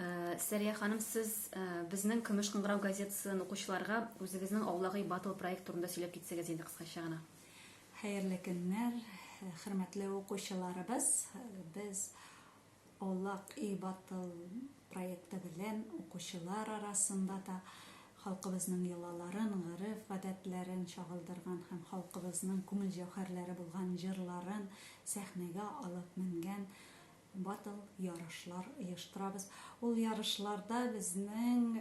Э, Сәрия ханым, сез э, безнең Көмеш кыңгырау газетасын укучыларга үзегезнең Аулагый батл проект турында сөйләп китсәгез инде кыскача гына. Хәерле көннәр, э, хөрмәтле укучыларыбыз. Без Аулак и батл проекты белән укучылар арасында да халкыбызның йолаларын, гырыф гадәтләрен чагылдырган һәм халкыбызның күңел җәүһәрләре булган җырларын сәхнәгә алып менгән Батл, ярышлар оештырабыз. Ул ярышларда безнең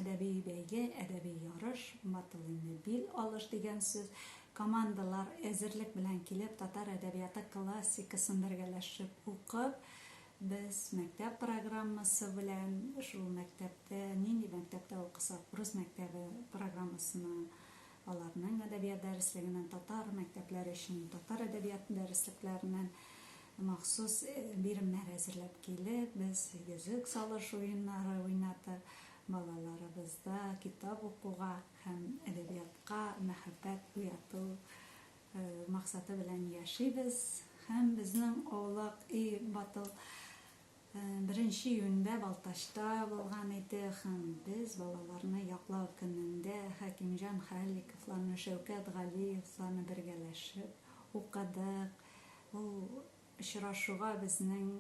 әдәби бәйге, әдәби ярыш, батл инде бил алыш дигән сүз, командалар әзерлек белән килеп, татар әдәбияты классикасын бергәләшеп укып, без мәктәп программасы белән, шул мәктәптә, нинди мәктәптә укысак, урыс мәктәбе программасына Аларның әдәбият дәреслегеннән, татар мәктәпләре өчен татар әдәбияты дәреслекләреннән махсус биремнәр әзерләп килеп, без йөзек салыш уеннары уйнадык, балаларыбызда китап укуга һәм әдәбиятка мәхәббәт уяту максаты белән яшибез һәм безнең аулак өй батыл. Беренче июньдә Балтачта булган иде һәм без балаларны яклау көнендә Хәкимҗан Халиковларны, Шәүкәт Галиевларны бергәләшеп укыдык. Ул очрашуга безнең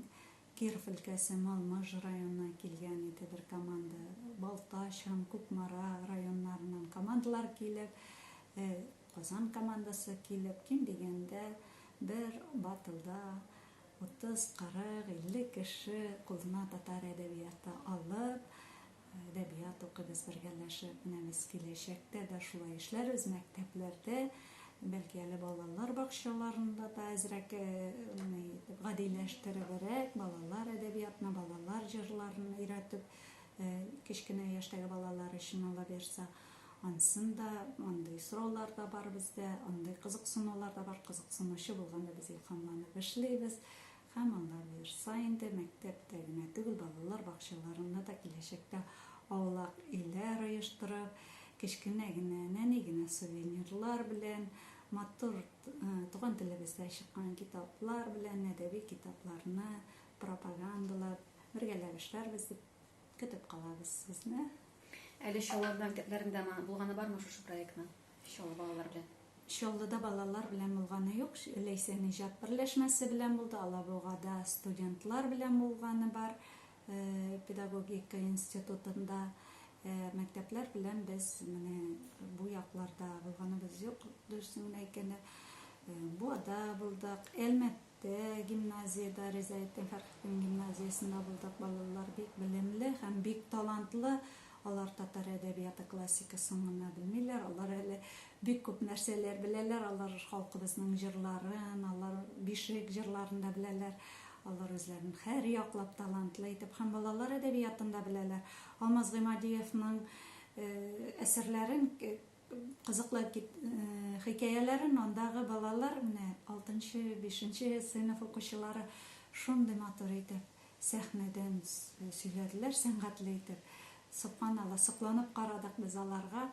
Киров өлкәсе Малмыж районыннан килгән иде бер команда, Балтач һәм Кукмара районнарыннан командалар килеп, Казан командасы килеп, ким дигәндә бер батлда Утыз, кырык, илле кеше кулына татар әдәбияты алып, әдәбият укыйбыз бергәләшеп. Менә без киләчәктә дә шулай эшләрбез, мәктәпләрдә, бәлки әле балалар бакчаларында да әзрәк гадиләштеребрәк, балалар әдәбиятына, балалар җырларын өйрәтеп, кечкенә яшьтәге балалар өчен алып йөрсә. Ансын да, андый сораулар да бар бездә, андый кызыксынулар да бар, кызыксынучы булганда без илһамланып эшлибез. Һәм алар быерса инде, мәктәптә генә түгел, балалар бакчаларында да киләчәктә аулак өйләр оештырып, кечкенә генә, нәни генә сувенирлар белән, матур туган телебездә чыккан китаплар белән, әдәби китапларны пропагандалап, бергәләп эшләрбез дип Көтеп калабыз сезне. Әле Чаллыда мектәпләрендә булганы бармы шушы проектның? Чаллы балалар белән. Чаллыда балалар белән булганы юк. Ләйсән иҗат берләшмәсе белән булды. Алабугада студентлар белән булганы бар. Э, педагогика институтында э, мәктәпләр белән без менә бу якларда булганыбыз юк дөресен генә әйткәндә э, буада булдык әлмәт Тә, гимназиядә, Ризаэттин Фәрхетдин гимназиясендә булдык. Балалар бик белемле һәм бик талантлы. Алар татар әдәбияты классикасын гына белмиләр, алар әле бик күп нәрсәләр беләләр. Алар халкыбызның җырларын, алар бишек җырларын да беләләр. Алар үзләрен һәр яклап талантлы итеп һәм балалар әдәбиятын да беләләр. Алмаз Гыймадиевның әсәрләрен Кызыклы хикәяләрен андагы балалар, менә алтынчы, бишенче сыйныф укучылары шундый матур итеп сәхнәдән сөйләделәр, сәнгатьле итеп. Собханалла, сокланып карадык без аларга.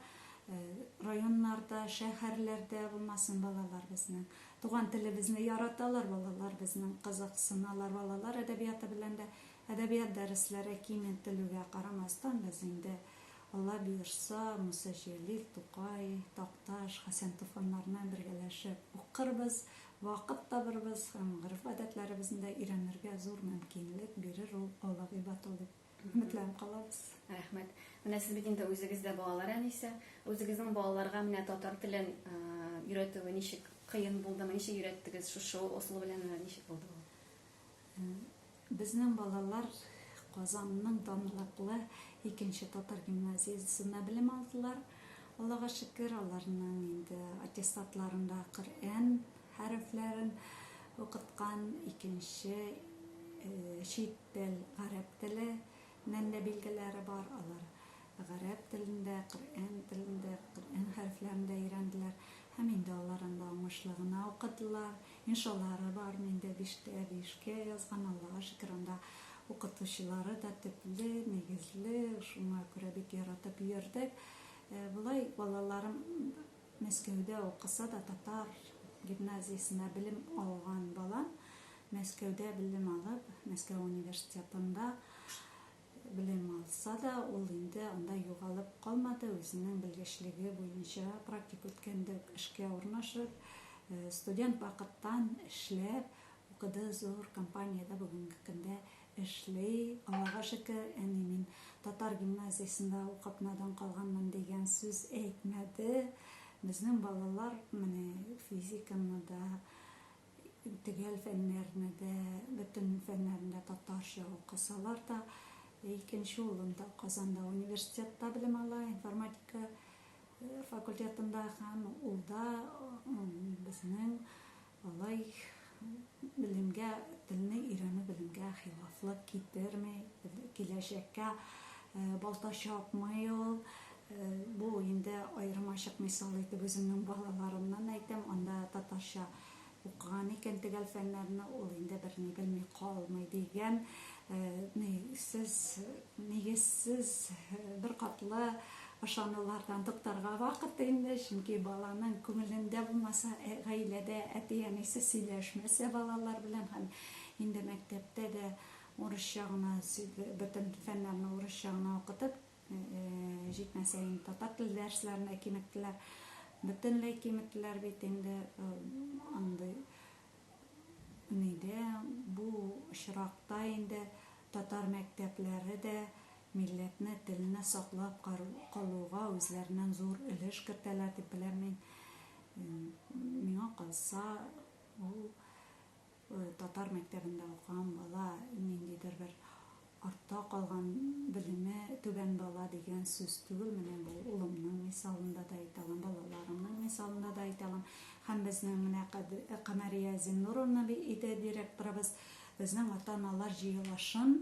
Районнарда, шәһәрләрдә булмасын балалар безнең. Туган телебезне яраталар балалар безнең, кызыксыналар балалар әдәбияты белән дә. Әдәбият дәресләре киң ителүгә карамастан, без инде Алла боерса, Муса Җәлил, Тукай, Такташ, Хәсән Туфаннарны бергәләшеп укырбыз, вакыт табырбыз һәм гореф-гадәтләребезне дә өйрәнергә зур мөмкинлек бирер ул Алла Гыйбатул дип өметләнеп калабыз. Рәхмәт. Менә сез бит инде үзегез дә балалар әнисе. Үзегезнең балаларга менә татар телен өйрәтүе ничек кыен булдымы, ничек өйрәттегез, шушы ысул белән ничек булды ул? Безнең балалар Казанның данлыклы икенче татар гимназиясендә белем алдылар. Аллага шөкер, аларның инде аттестатларында Коръән хәрефләрен укыткан, икенче чит тел, гарәп теле Мәнле билгеләре бар, алар гарәп телендә, Коръән телендә, Коръән хәрефләрендә өйрәнделәр һәм инде алар анда уңышлы гына укыдылар. Иншалары бар, мин дә биштә биешкә язган, Аллага шөкер, анда укытучылары да төпле, нигезле, шуңа күрә бик яратып йөрдек. Болай балаларым Мәскәүдә укыса да, татар гимназиясендә белем алган балам, Мәскәүдә белем алып, Мәскәү университетында белем алса да, ул инде анда югалып калмады, үзенең белгечлеге буенча практик үткәндәп эшкә урнашып, студент вакыттан эшләп укыды, зур компаниядә бүгенге көндә эшли. Аллага шөкер, әни мин татар гимназиясендә укып надан калганмын дигән сүз әйтмәде. Безнең балалар менә физиканы да, Төгәл фәннәрне дә, бөтен фәннәрне дә татарча укысалар да, икенче улым да Казанда университетта белем ала, информатика факультетында һәм ул да безнең алай белемгә, телне өйрәнү белемгә хилафлык китерми, киләчәккә балта чапмый ул, Бу инде аермачык мисал итеп үземнең балаларымнан әйтәм, анда татарча укыган икән төгәл фәннәрне, ул инде берни белми калмый дигән нигезсез нигезсез беркатлы ышанулардан туктарга вакыт инде, чөнки баланың күңелендә булмаса, гаиләдә әти-әнисе сөйләшмәсә балалар белән һәм инде мәктәптә дә урысча гына сөйлә бөтен фәннәрне урысча гына укытып, Җитмәсә инде татар теле дәресләрендә киметтеләр. Бөтенләй киметтеләр бит инде андый. Нидә бу очракта инде татар мәктәпләре дә милләтне, телне саклап калуга үзләреннән зур өлеш кертәләр дип беләм мин. Миңа калса, ул Татар мәктәбендә укыган бала ниндидер бер артта калган, белеме түбән бала дигән сүз түгел. Менә бу улымның мисалында да әйтә алам, балаларымның мисалында да әйтә алам. Һәм безнең менә Камәрия Зиннуровна иде директорыбыз. Безнең ата-аналар җыелышын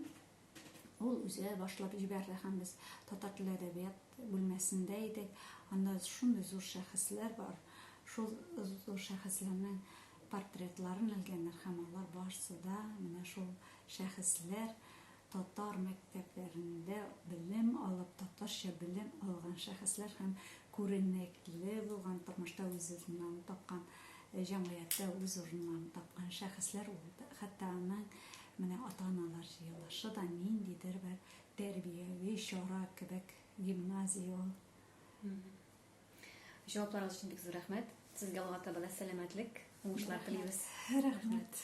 Ул үзе башлап җибәрде һәм без татар теле әдәбият бүлмәсендә идек. Анда шундый зур шәхесләр бар, шул зур шәхесләрнең портретларын элгәннәр һәм алар барсы да менә шул шәхесләр татар мәктәпләрендә белем алып, татарча белем алган шәхесләр һәм күренекле булган тормышта үз урыннарын тапкан, җәмгыятьтә үз урыннарын тапкан шәхесләр ул. Хәтта аның Менә ата-аналар җыелышы да ниндидер бер тәрбияви чара кебек, гимназия ул. Җавапларыгыз өчен бик зур рәхмәт. Сезгә Аллаһы Тәгалә сәламәтлек, уңышлар телибез. Рәхмәт.